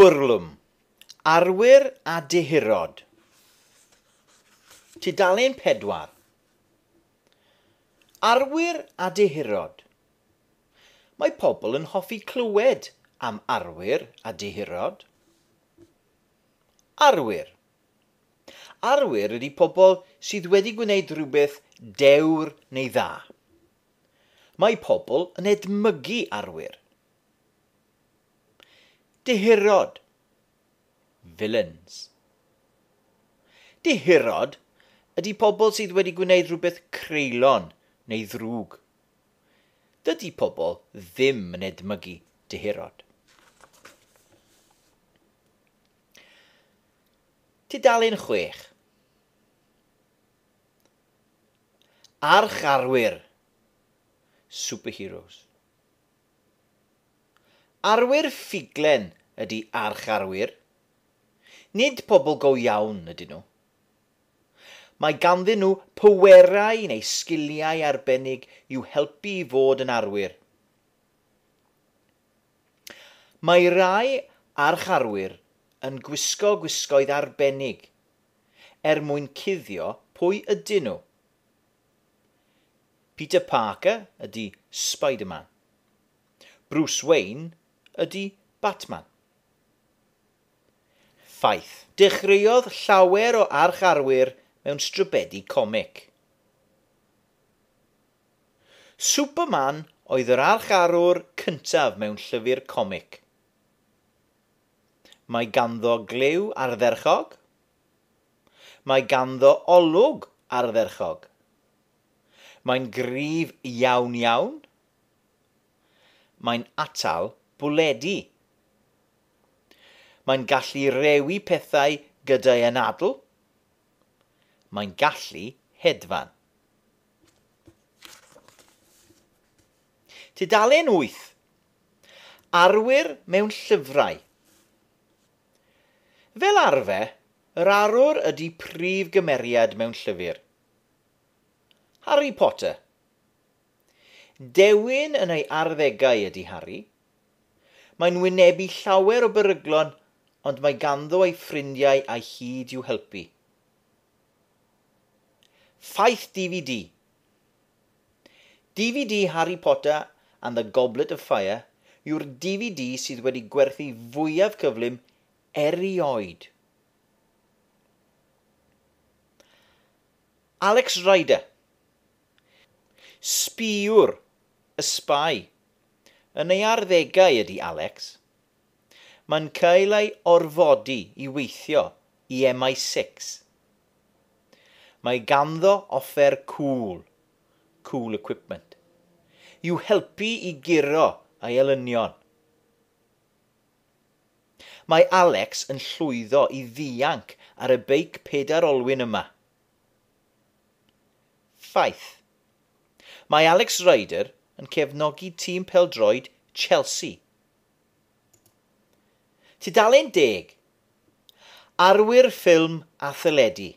Bwrlwm, arwyr a dehurod. Tudalen 4. Arwyr a dehurod. Mae pobl yn hoffi clywed am arwyr a dehurod. Arwyr. Arwyr ydy pobl sydd wedi gwneud rhywbeth dewr neu dda. Mae pobl yn edmygu arwyr. Dihirod. Villains. Dihirod ydy pobl sydd wedi gwneud rhywbeth creulon neu ddrwg. Dydy pobl ddim yn edmygu dihirod. Tudalen chwech. Archarwyr, superheroes. Arwyr ffuglen ydi archarwyr. Nid pobl go iawn ydyn nhw. Mae ganddyn nhw pwerau neu sgiliau arbennig i'w helpu i fod yn arwyr. Mae rhai archarwyr yn gwisgo gwisgoedd arbennig er mwyn cuddio pwy ydyn nhw. Peter Parker ydy Spider-Man. Bruce Wayne ydy Batman. Ffaith. Dechreuodd llawer o arch-arwyr mewn strybedi comic. Superman oedd yr arch-arwr cyntaf mewn llyfr comic. Mae ganddo glyw ardderchog. Mae ganddo olwg ardderchog. Mae'n gryf iawn iawn. Mae'n atal bwledi. Mae'n gallu rewi pethau gyda'i anadl. Mae'n gallu hedfan. Tudalen 8. Arwyr mewn llyfrau. Fel arfer, yr arwr ydy prif gymeriad mewn llyfr. Harry Potter. Dewin yn ei arddegau ydy Harry. Mae'n wynebu llawer o beryglon ond mae ganddo ei ffrindiau a'i hyd i'w helpu. Ffaith DVD DVD Harry Potter and the Goblet of Fire yw'r DVD sydd wedi gwerthu fwyaf cyflym erioed. Alex Rider Sbïwr y sbai Yn ei arddegau ydy Alex. Mae'n cael ei orfodi i weithio i MI-six. Mae ganddo offer cŵl, cool equipment, i'w helpu i guro ei elynion. Mae Alex yn llwyddo i ddianc ar y beic pedair olwyn yma. Ffaith. Mae Alex Ryder yn cefnogi tîm pêl-droed Chelsea Tudalen deg, Arwyr ffilm a theledu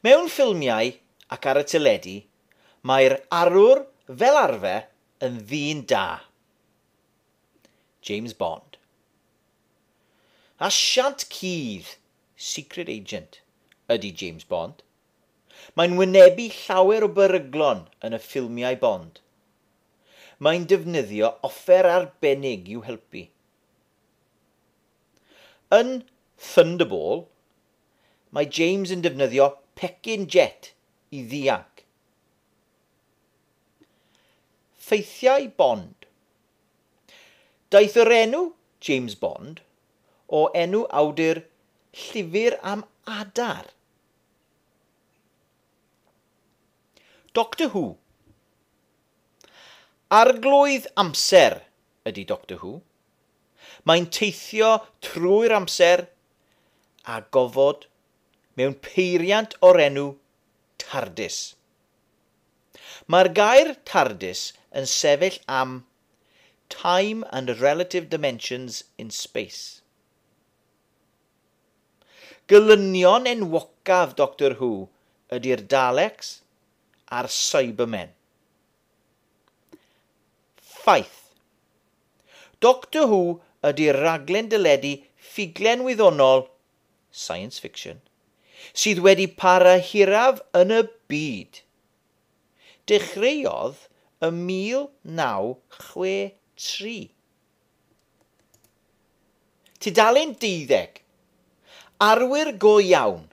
Mewn ffilmiau ac ar y teledu, mae'r arwr fel arfer yn ddyn da. James Bond. Asiant cudd, secret agent, ydy James Bond. Mae'n wynebu llawer o beryglon yn y ffilmiau Bond. Mae'n defnyddio offer arbennig i'w helpu. Yn Thunderball, mae James yn defnyddio pecyn jet i ddianc. Ffeithiau Bond Daeth yr enw James Bond o enw awdur llyfr am adar. Doctor Who Arglwydd amser ydy Doctor Who. Mae'n teithio trwy'r amser a gofod mewn peiriant o'r enw Tardis. Mae'r gair Tardis yn sefyll am Time and Relative Dimensions in Space. Gelynion enwocaf Doctor Who ydy'r Daleks, a'r Cybermen. Ffaith. Doctor Who ydy'r rhaglen deledu ffuglen wyddonol, science fiction, sydd wedi para hiraf yn y byd. Dechreuodd ym 1963. Tudalen deuddeg. Arwyr go iawn.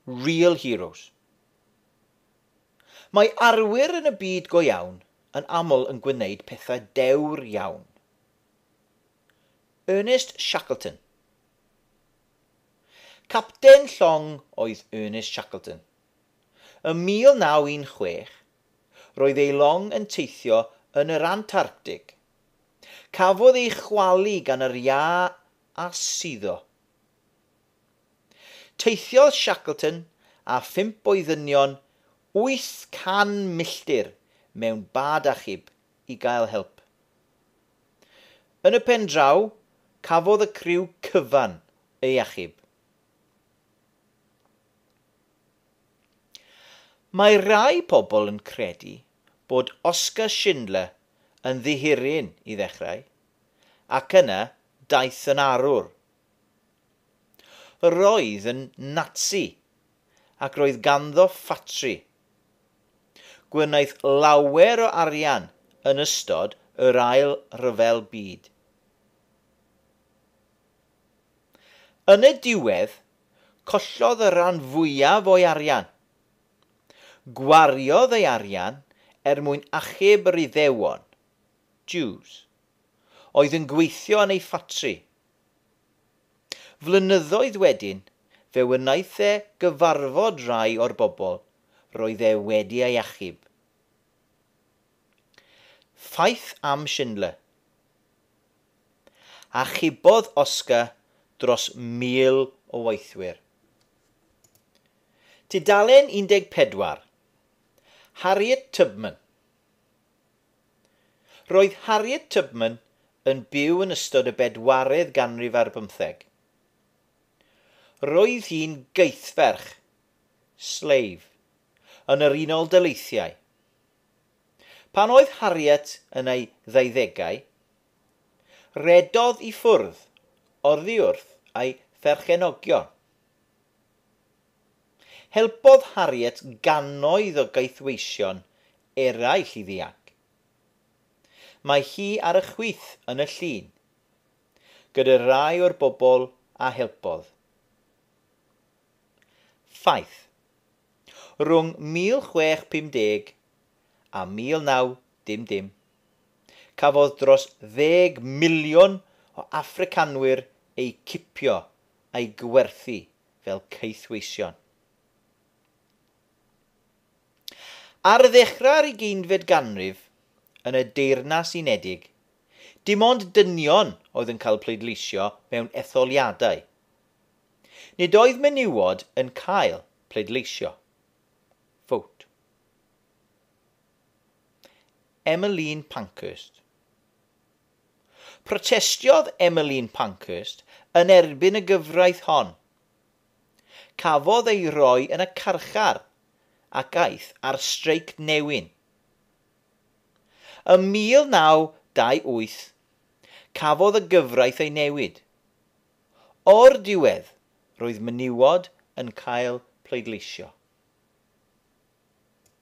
Real heroes. Mae arwyr yn y byd go iawn yn aml yn gwneud pethau dewr iawn. Ernest Shackleton Capten llong oedd Ernest Shackleton. Ym 1916, roedd ei long yn teithio yn yr Antarctig. Cafodd ei chwalu gan yr iâ a suddo. Teithiodd Shackleton a phump o'i ddynion 800 milltir mewn bad achub i gael help. Yn y pen draw, cafodd y criw cyfan ei achub. Mae rhai pobl yn credu bod Oskar Schindler yn ddihiryn i ddechrau, ac yna daeth yn arwr. Yr oedd yn Natsi, ac roedd ganddo ffatri. Gwnaeth lawer o arian yn ystod yr Ail Ryfel Byd. Yn y diwedd, collodd y rhan fwyaf o'i arian. Gwariodd ei arian er mwyn achub yr Iddewon, Jews, oedd yn gweithio yn ei ffatri, Flynyddoedd wedyn, fe wnaeth e gyfarfod rhai o'r bobl roedd e wedi ei achub. Ffaith am Schindler. Achubodd Oskar dros 1,000 o weithwyr. Tudalen 14. Harriet Tubman. Roedd Harriet Tubman yn byw yn ystod y bedwaredd ganrif ar bymtheg. Roedd hi'n geithferch, slave, yn yr Unol Daleithiau. Pan oedd Harriet yn ei ddeuddegau, rhedodd i ffwrdd oddi wrth ei pherchenogion. Helpodd Harriet gannoedd o gaethweision eraill i ddianc. Mae hi ar y chwith yn y llun, gyda rhai o'r bobl a helpodd. Ffaith. Rhwng 1650 a 1900, cafodd dros ddeg miliwn o Affricanwyr eu cipio a'u gwerthu fel caethweision. Ar ddechrau'r ugeinfed ganrif, yn y Deyrnas Unedig, dim ond dynion oedd yn cael pleidleisio mewn etholiadau. Nid oedd menywod yn cael pleidleisio. Vote. Emmeline Pankhurst. Protestiodd Emmeline Pankhurst yn erbyn y gyfraith hon, Cafodd ei roi yn y carchar ac aeth ar streic newyn. Ym 1928, cafodd y gyfraith ei newid. O'r diwedd, roedd menywod yn cael pleidleisio.